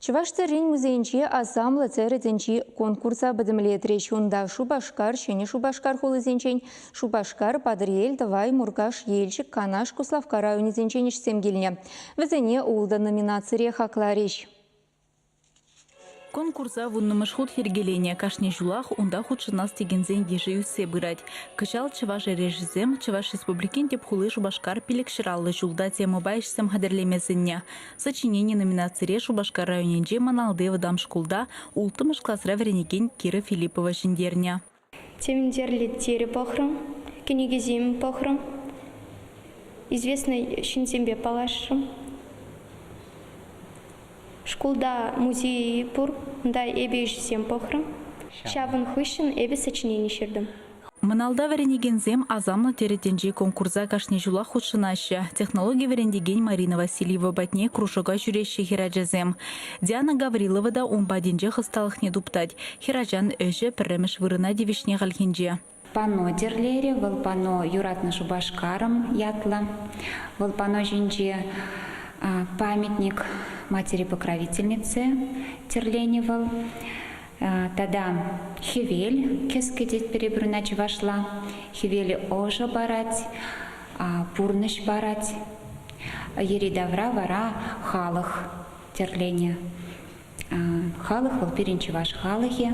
Чӑваш тӗррин музейӗнче асамлӑ тӗрӗ тӗнчи конкурса пӗтӗмлетрӗҫ. Унта Шупашкар, Ҫӗнӗ Шупашкар хулисенчен, Шупашкар, Патӑрьел, Тӑвай, Муркаш, Елчӗк, Канаш, Куславкка районӗсенчен ӗҫсем килнӗ. Вӗсене ултӑ номинацире хакларӗҫ. Конкурса вуннӑмӗш хут йӗркеленӗ. Кашни ҫулах унта хутшӑнас текенсен йышӗ ӳссе пырать. Кӑҫал Чӑваш эрешӗсем Чӑваш Республикин тӗп хули Шупашкар пилӗк ҫӑраллӑ ҫулта темӑпа ӗҫсем хатӗрлеме сӗннӗ. Сочинени номинацире Шупашкар районӗнчи Маналти вӑтам шкулта улттӑмӗш класра вӗренекен Кира Филиппова ҫӗнтернӗ. Тевентерлӗ тери пӑхрӑм, кӗнекесем пӑхрӑм, известнӑ ҫынсемпе паллашрӑм. Шкулта музей пур, унта эпӗ ӗҫсем пӑхрӑм. Ҫавӑн хыҫҫӑн эпӗ сочинени ҫыртӑм. Мӑналта вӗренекенсем Асамлӑ Теретӗнчи конкурса кашни ҫулах хутшӑнаҫҫӗ. Технологи вӗрентекен Марина Васильева патне кружока ҫӳреҫҫӗ хӗрачасем. Диана Гаврилова та ун патӗнче хӑсталӑхне туптать. Хӗрачан ӗҫӗ пӗрремӗш вырӑна тивӗҫнӗ хальхинче. Пано тӗрлерӗ вӑл, Пано, юратнӑ Шупашкарӑм ятлӑ. Вӑл пано ҫинче памятник матери-покровительнице тӗрленӗ вӑл. Тата хӗвел кӗске тетпӗр эпир ӑна чӑвашла. Хӗвел ӑшӑ парать, пурнӑҫ парать. Йӗри-тавра вара халӑх тӗрленӗ. Халӑх вӑл пирӗн чӑваш халӑхӗ.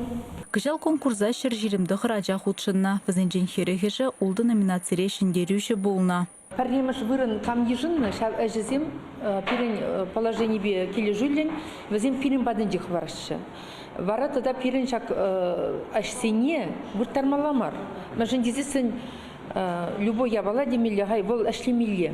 Кӑҫал конкурса ҫӗр ҫирӗм тӑхӑр ача хутшӑннӑ. Вӗсенчен хӗрӗхӗшӗ ултӑ номинацире ҫӗнтерӳҫӗ пулнӑ. Пӗрремӗш вырӑн кам йышӑннӑ, ҫав ӗҫӗсем пирӗн положенипе килӗшӳллӗн вӗсем пирӗн патӗнче хӑвараҫҫӗ. Вара тата пирӗн ҫак ӗҫсене вырттармалла мар, мӗншӗн тесессӗн любой япала темелле, хай вӑл ӗҫлемелле.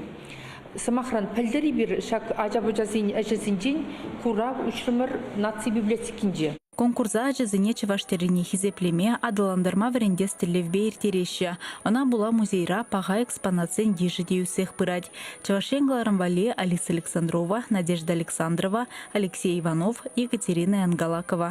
Сӑмахран, пӗлтӗр эпир ҫак ача-пӑчасен ӗҫӗсенчен курав уҫрӑмӑр наци библиотекинче. Конкурса ачасене чӑваш тӗррине хисеплеме, аталантарма вӗрентес тӗллевпе ирттереҫҫӗ. Ӑна пула музейра паха экспонатсен йышӗ те ӳссех пырать. Чӑваш Ен кӑларӑм валли Алиса Александрова, Надежда Александрова, Алексей Иванов, Екатерина Янгалакова.